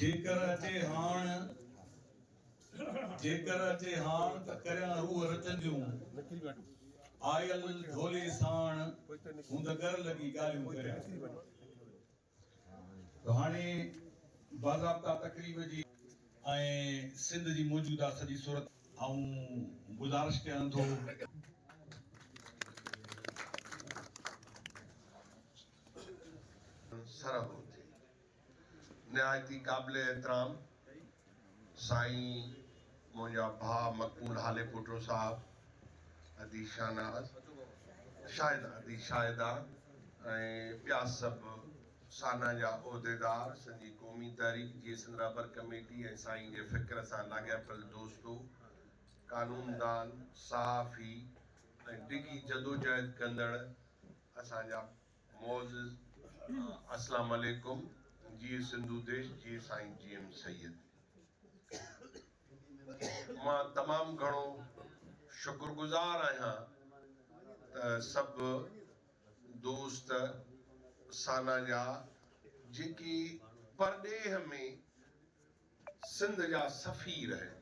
جيڪر اچي هاڻ، جيڪر اچي هاڻ ته ڪريان روح رچن جون، آيل ڍولي ساڻ هون ته ڳر لڳي ڳالهيون ڪريان. ته هاڻي باضابطا تقريب جي. ۽ سنڌ جي موجوده سڄي صورت. آئون گذارش ڪيان ٿو ته. سرهه هجي. نهايت ئي قابل احترام سائين منهنجا ڀاء مقبول هاليپوٽو صاحب، ادي شاهناز، شاهده ادي شاهده ۽ ٻيا سڀ سانا جا عهديدار، سنڌي قومي تحريڪ جي سندرابر ڪميٽي ۽ سائين جي فڪر سان لاڳاپيل دوستو، قانوندان، صحافي ۽ ڊگهي جدوجهد ڪندڙ اسان جا معزز اسلام عليڪم، جيئي سنڌو ديش، جيئي سائين جي ايم سيد. مان تمام گهڻو شڪرگذار آهيان ته سڀ دوست سانا جا جيڪي پرڏيهه ۾ سنڌ جا سفير اهن.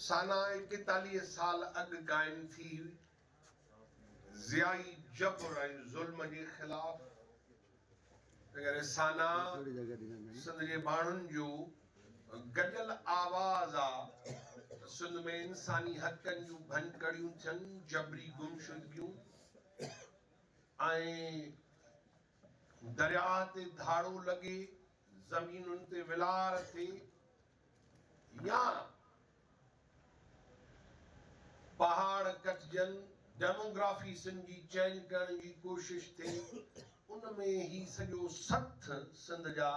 سانا ايڪيتاليهه سال اڳ قائم ٿي هئي. ضيائي جبر ۽ ظلم جي خلاف رسانا سنڌ جي ماڻهن جو گڏيل آواز آ ته سنڌ ۾ انساني حقن جون ڀڃڪڙيون ٿين، جبري گمشدگيون ۽ درياهه تي ڌاڙو لڳي، زمينن تي ولار ٿئي. يا پهاڙ ڪٽجن، ڊيموگرافي سم جي چينج ڪرڻ جي ڪوشش ٿئي، ان ۾ هي سڄو سٿ سنڌ جا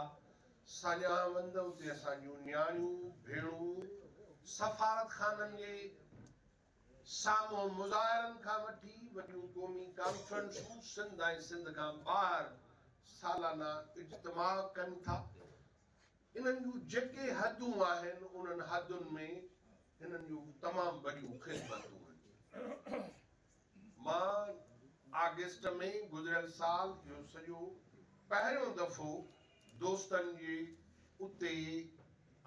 ساڃاهوند اتي اسان جون نياڻيون، ڀيڻون سفارت خانن جي سامهون مظاهرن کان وٺي وڏيون قومي ڪانفرنسون سنڌ ۽ سنڌ کان ٻاهر سالانه اجتماع ڪن ٿا. انهن جون جيڪي حدون آهن، انهن حدن ۾ هنن جون تمام وڏيون خدمتون آهن. مان آگسٽ ۾ گذريل سال اهو سڄو پهريون دفعو دوستن جي اتي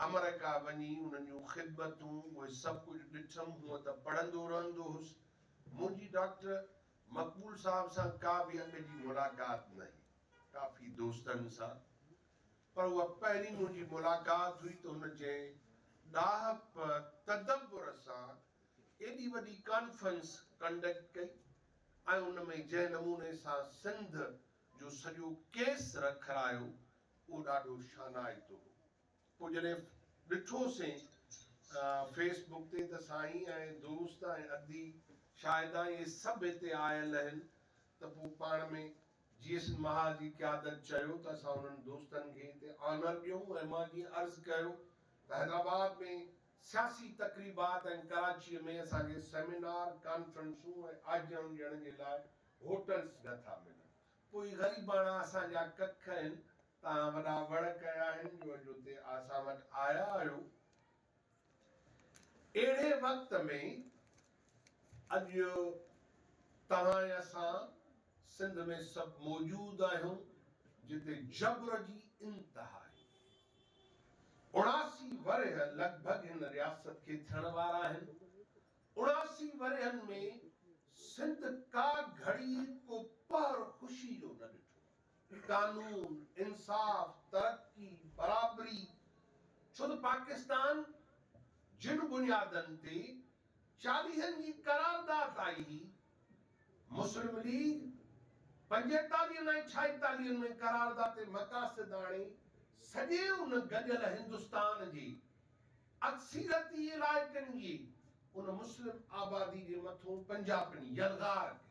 آمريڪا وڃي انهن جون خدمتون اهي سڀ ڪجهه ڏٺم. هونء ته پڙهندو رهندو هوس. منهنجي ڊاڪٽر مقبول صاحب سان ڪا به اڳ جي ملاقات ناهي. ڪافي دوستن سان پر اها پهرين منهنجي ملاقات هئي ته هن جنهن ڏاهپ تدبر سان ايڏي وڏي ڪانفرنس ڪنڊڪٽ ڪئي ۽ ان ۾ جنهن نموني سان سنڌ جو سڄو ڪيس رکرايو اهو ڏاڍو شانائتو هو پوء جڏهن ڏٺو سين فيس بڪ تي ته سائين ۽ دوست ۽ ادي شاهدان اهي سڀ هتي آيل اهن ته پوء پاڻ ۾ جي ايس مها جي قيادت چيو ته اسان انهن دوستن کي هتي آنر ڏيون ۽ مان جيئن عرض ڪيو ته حيدرآباد ۾ سياسي تقريبات ۽ ڪراچيء ۾ اسان کي سيمينار، ڪانفرنسون ۽ آجيان ڏيڻ جي لاء هوٽلز نه ٿا ملن. پوء هي غريباڻا اسان جا ڪک آهن، توهان وڏا وڙ ڪيا آهن جو اڄ هتي اسان وٽ آيا آهيو. اهڙي وقت ۾ اڄ توهان ۽ اسان سنڌ ۾ سڀ موجود آهيون جتي جبر جي انتها آهي. اڻاسي ورهيه لڳ ڀڳ هن رياست کي ٿيڻ وارا آهن. اڻاسي ورهين ۾ سنڌ ڪا گهڙي ڪو پهر خوشي جو نه ڏٺو. قانون، انصاف، ترقي، برابري ڇو ته پاڪستان جن بنيادن تي چاليهن جي قرارداد آئي هئي، مسلم ليگ پنجيتاليهن ۽ ڇائيتاليهن ۾ قرارداد تي مقاصد آڻي سڄي ان گڏيل هندستان جي اڪثيرتي علائقن جي ان مسلم آبادي جي مٿون پنجاپن يلغار ڪئي.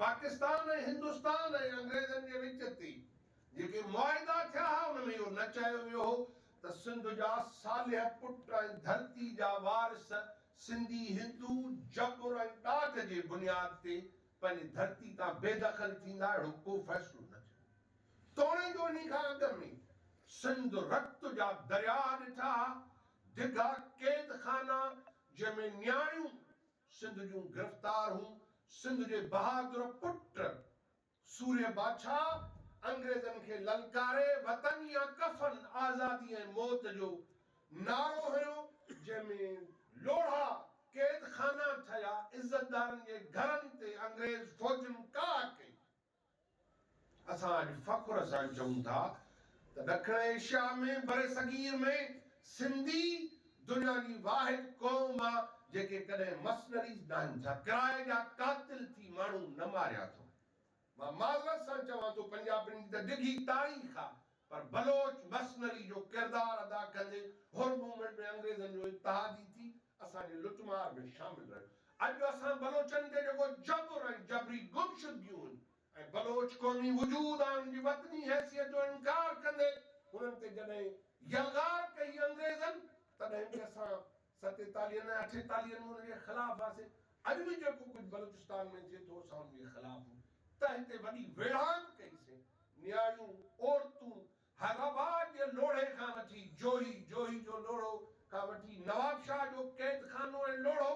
پاڪستان ۽ هندستان ۽ انگريزن جي وچ تي جيڪي معاهدا ٿيا ها ان ۾ اهو نه چيو ويو هو ته سنڌ جا صالح پٽ ۽ ڌرتي جا وارث سنڌي هندو جبر ۽ ڏاڍ جي بنياد تي پنهنجي ڌرتي تان بي دخل ٿيندا اهڙو ڪو فيصلو نه ٿيو توڻي جو انهي کان اڳ ۾ سنڌ رت جا درياهه ڏٺا ها ڊگها قيد خانا جنهن ۾ نياڻيون سنڌ جون گرفتار هون سنڌ جي بهادر پٽ سورهيه باڇا انگريزن کي للڪاري وطن يا ڪفن آزادي ۽ موت جو نعرو هنيو جنهن ۾ لوڙها قيد خانا ٺهيا عزتدارن جي گهرن تي انگريز فوجن ڪاهه ڪئي. اسان اڄ فخر سان چئون ٿا ته ڏکڻ ايشيا ۾ برصغير ۾ سنڌي دنيا جي واحد قوم آ جيڪي ڪڏهن مسنريز ناهن ٿا ڪرائي جا قاتل ٿي ماڻهو نه ماريا اٿو مان معذرت سان چوان ٿو پنجابين جي ته ڊگهي تاريخ آ پر بلوچ مرسنري جو ڪردار ادا ڪندي حر موومينٽ ۾ انگريزن جو اتحاد ئي ٿي اسان جي لٽ مار ۾ شامل رهيو. اڄ اسان بلوچن تي جيڪو جبر ۽ جبري گمشدگيون ۽ بلوچ قومي وجود ۽ ان جي وطني حيثيت جو انڪار ڪندي انهن تي جڏهن يلغار ڪئي انگريزن تڏهن به اسان ستيتاليهن ۽ اٺيتاليهن ۾ ان جي خلاف هئاسين. اڄ به جيڪو ڪجهه بلوچستان ۾ ٿئي ٿو اسان ان جي خلاف آهيون. تنهن تي وڏي ويڙهاڪ ڪئي سين. نياڻيون، عورتون، حيدرآباد جي لوڙهي کان وٺي جوهي، جوهي جو لوڙهو، کان وٺي نوابشاهه جو قيد خانو ۽ لوڙهو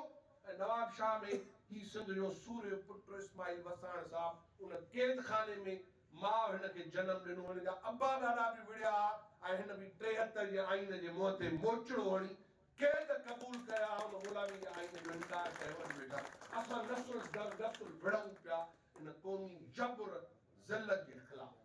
۽ نوابشاهه ۾ هي سنڌ جو سورهيه پٽ اسماعيل وساڻ صاحب ان قيد خاني ۾ ماء هن کي جنم ڏنو. هن جا ابا ڏاڏا به وڙهيا ها ۽ هن به ٽيهتر جي آئين جي منهن تي موچڙو هڻي قيد قبول ڪيا ها. هن غلامي جي آئين جو انڪار ڪيو ۽ ويٺا اسان نسل در نسل وڙهون پيا ان قومي جبر ذلت جي خلاف.